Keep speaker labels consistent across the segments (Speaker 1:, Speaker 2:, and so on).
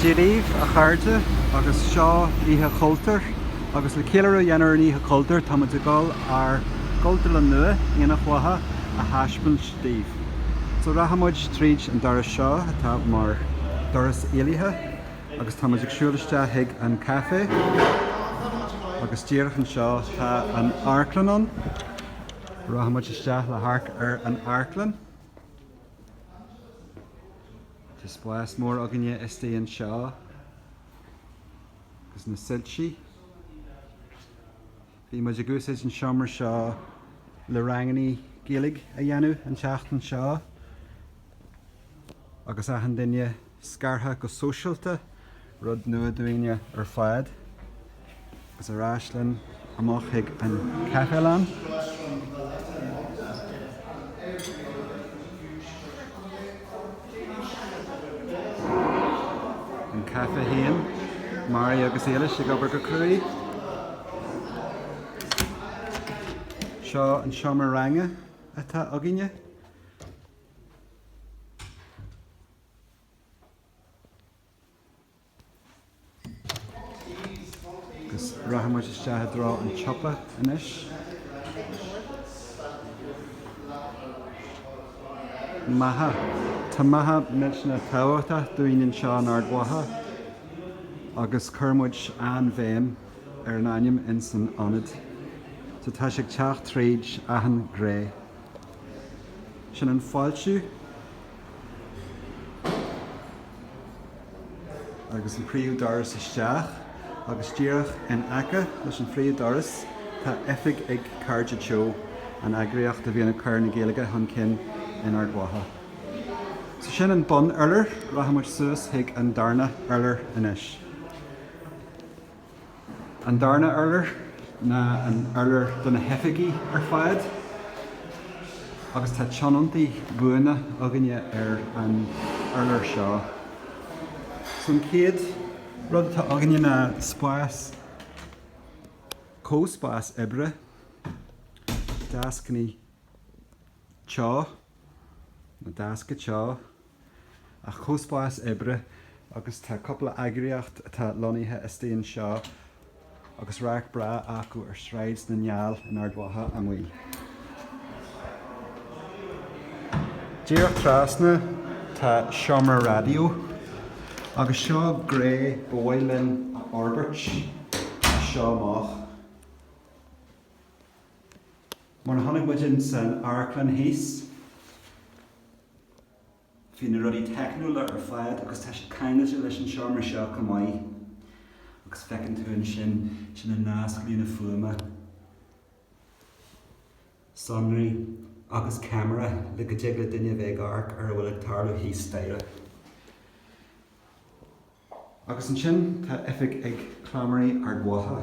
Speaker 1: Dia daoibh a chairde agus seo Oíche Chultúir agus le céiliúradh a dhéanamh ar an Oíche Chultúir tá muid ag gabháil ár gCultúrlann nua, Aonach Mhacha a thaispeáint daoibh. So rachaidh muid tríd an doras seo atá mar doras éalaithe agus tá muid ag siúl isteach chuig an caifé agus díreach anseo tá an amharclann ann. Rachaidh muid isteach le hamharc ar an amharclann. Tá spás mór againne istigh anseo agus na soilsí. Bhí muid ag úsáid an seomra seo le ranganna Gaeilge a dhéanamh an tseachtain seo agus achan duine Scartha go sóisialta, rud nua dúinne ar fad. Agus ar ais linn amach chuig an chaifelann. An caifé féin, Mary agus Éilis ag obair go cruaidh. Seo an seomra ranga atá againne. Agus rachaidh muid isteach i dtreo an tsiopa anois. Macha. Tá Macha millteanach tábhachtach dúinn anseo in Ard Mhacha agus chuir muid an-bhéim ar an ainm in san ionad. So tá sé ag teacht tríd achan gné. Sin an fáiltiú. agus an príomhdhoras isteach agus díreach in aice leis an phríomhdhoras tá oifig ag Cairde Teo, an eagraíocht a bhíonn ag cur na Gaeilge chun cinn in Ard Mhacha. So sin an bunurlár, rachaidh muid suas chuig an darna hurlár anois. An darna hurlár ná an urlár do na hoifigí ar fad agus tá tionóntaí buana againne ar an urlár seo. So an chéad rud atá againne ná spás, comhspás oibre, deascanna teo, nó deasca teo. an comhspás oibre agus tá cúpla eagraíocht atá lonnaithe istigh anseo agus radharc breá acu ar Shráid na nGall in Ard Mhacha amuigh. Díreach trasna tá seomra raidió agus seo gné ba mhaith linn a fhorbairt as seo amach. Mar a chonaic muid in san amharclann thíos, Bhí na rudaí teicniúla ar fad agus tá siad ceangailte leis an seomra seo chomh maith. Agus feiceann tú ansin, sin an nasc líne fuaime, sonraí agus ceamara le go dtig le duine bheith ag amharc ar a bhfuil ag tarlú thíos staighre. Agus ansin tá oifig ag Cleamairí Ard Mhacha.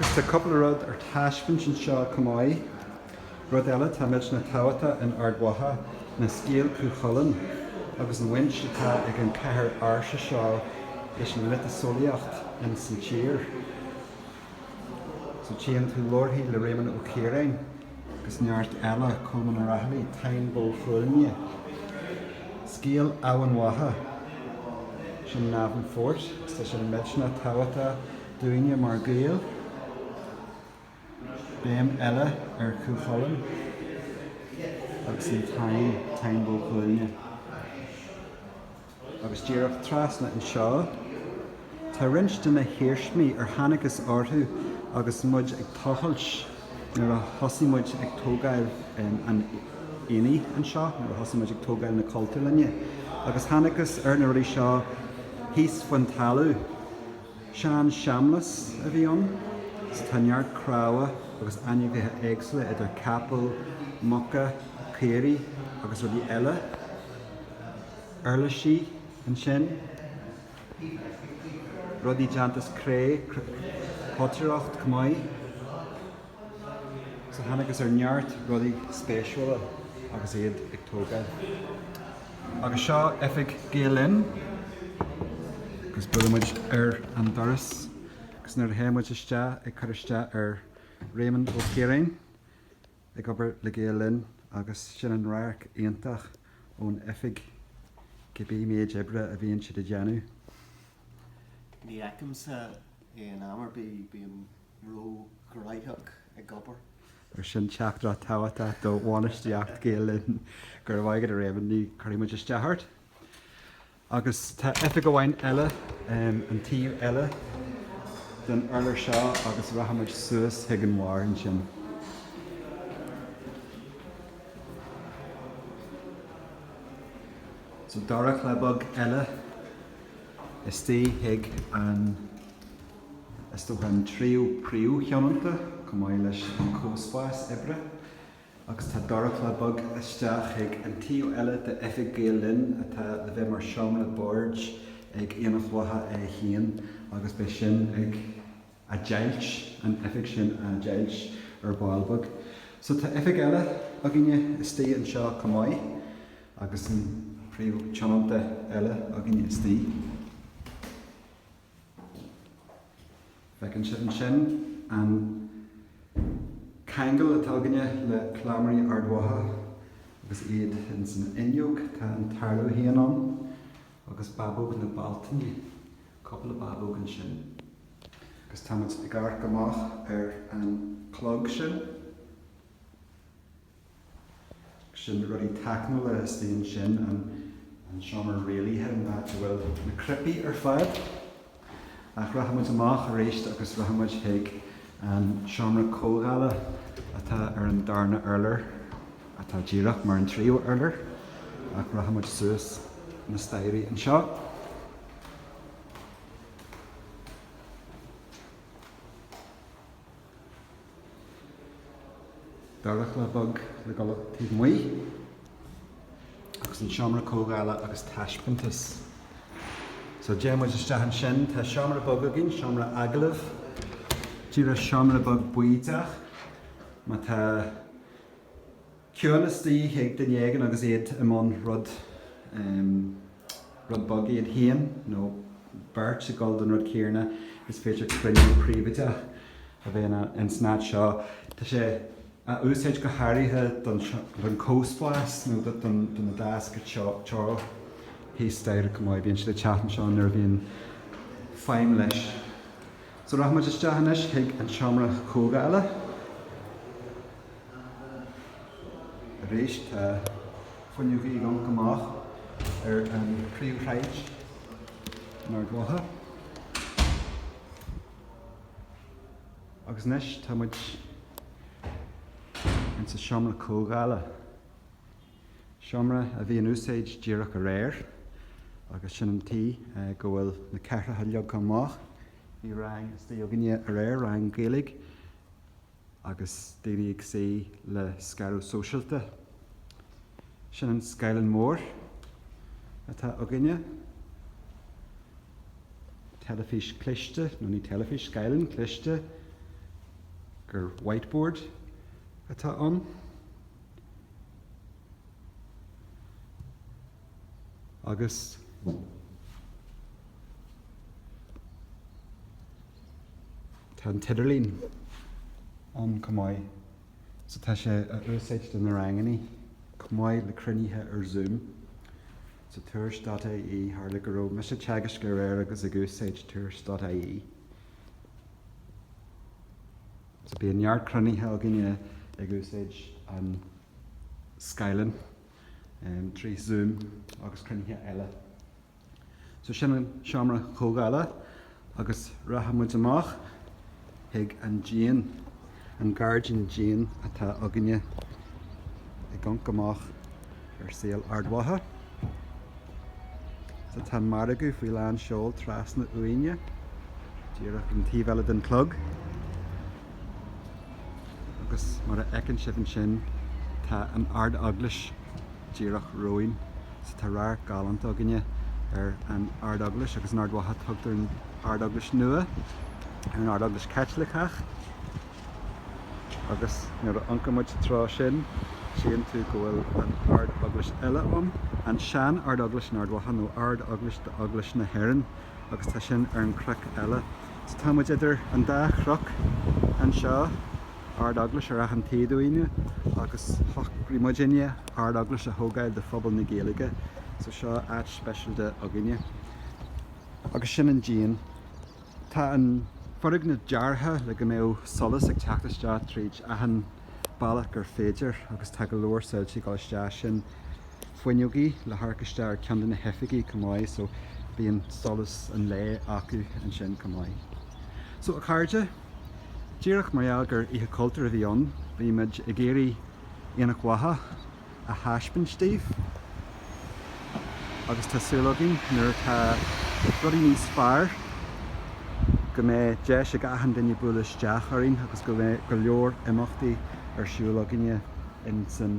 Speaker 1: Is tá cúpla rud ar taispeáint anseo chomh maith. Rud eile, atá millteanach tábhachtach in Ard Mhacha, ná scéal Cú Chulainn agus an bhaint atá ag an chathair ársa seo leis an mhiotaseolaíocht ins an tír. So tchíonn tú leabharthaí le Réamonn Ó Ciaráin agus neart eile, Colmán Ó Raghallaigh, Táin Bó Chuailgne, scéal Eamhain Mhacha, sin Navan Fort agus tá sin millteanach tábhachtach dúinne mar Gaeil. Béim eile ar Chú Chulainn agus an Táin, Táin Bó Chuailgne. agus díreach trasna anseo tá roinnt de na hiarsmaí ar thángthas orthu agus muid ag tochailt nuair a thosaigh muid ag tógáil an aonaigh anseo, nuair a thosaigh muid ag tógáil na cultúrlainne agus thángthas ar na rudaí seo thíos faoin talamh. Sean seamlas a bhí ann so tá neart cnámha agus ainmhithe éagsúla idir capaill, muca, caoirigh agus rudaí eile. uirlisí ansin, rudaí déanta as cré, potaireacht, chomh maith. So thángthas ar neart rudaí spéisiúla agus iad ag tógáil. Agus seo oifig Gael Linn. Agus buailfidh muid ar an doras agus nuair a théann muid isteach ag cur isteach ar Réamonn Ó Ciaráin. ag obair le Gael Linn agus sin an radharc iontach ón oifig cibé méid oibre a bhíonn siad a dhéanamh.
Speaker 2: Ní fheicimse é in am ar bith, bím ró ghnoitheach ag obair. Á, sin
Speaker 1: teachtaireacht tábhachtach do bhainistíocht Gael Linn, go raibh maith agat a Réamonn, ní chuirfidh muid isteach ort. Agus tá oifig amháin eile an taobh eile den urlár seo agus rachaimid suas chuig an bharr ansin. So dorchla beag eile istigh chuig an, is dócha an tríú príomhthionónta, chomh maith leis an comhspás oibre. Agus tá dorchla beag isteach chuig an tríú oifig Gael Linn atá le bheith mar seomra boird ag Aonach Mhacha é féin agus beidh sin á deighilt, an oifig sin á deighilt ar ball beag. So tá oifig eile againne istigh anseo chomh maith agus an príomhthionónta eile againne istigh. Feiceann sibh ansin an ceangal atá againne le Cleamairí Ard Mhacha agus iad ins an fhuinneog. Tá an Tarlach féin ann agus Babóg na Bealtaine, cúpla babóg ansin. Agus tá muid ag amharc amach ar an clog sin. sin rudaí teicniúla istigh ansin an seomra rialaithe an áit a bhfuil na cnaipí ar fad ach rachaidh muid amach aríst agus rachaidh muid chuig an seomra comhdhála atá ar an darna urlár atá díreach mar an tríú urlár ach rachaidh muid suas na staighrí anseo Dorchla beag le gabháil taobh amuigh agus an seomra comhdhála agus taispeántas. So téimid isteach ansin. Tá seomra beag againn, seomra agallaimh. Díreach seomra beag bídeach. Má tá. ciúnas de dhíth ar duine éigin agus iad i mbun rud rud beag, iad féin nó beirt ag gabháil don rud céarna, is féidir cruinniú príobháideach a bheith in san áit seo. Tá sé á úsáid go háirithe don don comhspás nó don do na deasca teo teo thíos staighre chomh maith. Bíonn siad ag teacht anseo nuair a bhíonn feidhm leis. So rachaidh muid isteach anois chuig an seomra comhdhála. Arís tá fuinneoga ag amharc amach ar an phríomhshráid in Ard Mhacha. Agus anois tá muid in sa seomra comhdhála. Seomra a bhí in úsáid díreach aréir agus sin an tuige, eh, go bhfuil na cathaoireacha leagtha amach. Bhí rang istigh againne aréir, rang Gaeilge, agus daoine ag suí le scaradh sóisialta. Sin an scáileán mór atá againne. Teilifís cliste, nó ní teilifís, scáileán cliste gur whiteboard atá ann. Agus Tá an t-idirlíon ann chomh maith so tá sé á úsáid do na rangannaí chomh maith le cruinnithe ar Zoom. So tuairisc dot ie, tharla go raibh mise ag teagaisc aréir agus ag úsáid tuairisc dot ie. So bíonn neart cruinnithe againne ag úsáid an scáileáin trí Zoom agus cruinnithe eile. So sin an seomra comhdhála agus rachaidh muid amach chuig an díon, an gairdín díon atá againne ag amharc amach ar saol Ard Mhacha. So tá an margadh faoi lán seol trasna uainne, díreach an taobh eile den chlog. Agus mar a fheiceann sibh ansin tá an Ard-Eaglais díreach romhainn. So tá radharc galánta againne ar an Ard-Eaglais agus in Ard Mhacha tugtar an Ard-Eaglais Nua ar an Ard-Eaglais Chaitliceach. Agus nuair a amharcann muid sa treo sin tchíonn tú go bhfuil an Ard-Eaglais eile ann, an sean Ard-Eaglais in Ard Mhacha nó Ard-Eaglais d'Eaglais na hÉireann agus tá sin ar an chnoc eile. So tá muid idir an dá chnoc anseo, Ard Eaglais ar achan taobh dínne agus shocraigh muidinne Ard Eaglais a thógáil do phobal na Gaeilge so seo áit speisialta atá againne agus sin an díon. Tá an foirgneamh deartha le go mbeadh solas ag teacht isteach tríd achan bealach gur féidir agus tá go leor solais ag dul isteach sin. fuinneogaí le hamharc isteach ar ceann de na hoifigí chomh maith so bíonn solas an lae acu ansin chomh maith. So a chairde, díreach mar gheall gur Oíche Chultúir a bhí ann, bhí muid ag iarraidh Aonach Mhacha a thaispeaint daoibh agus tá súil againn nuair atá rudaí níos fearr go mbeidh deis ag achan duine bualadh isteach orainn agus go mbeidh go leor imeachtaí ar siúl againne insan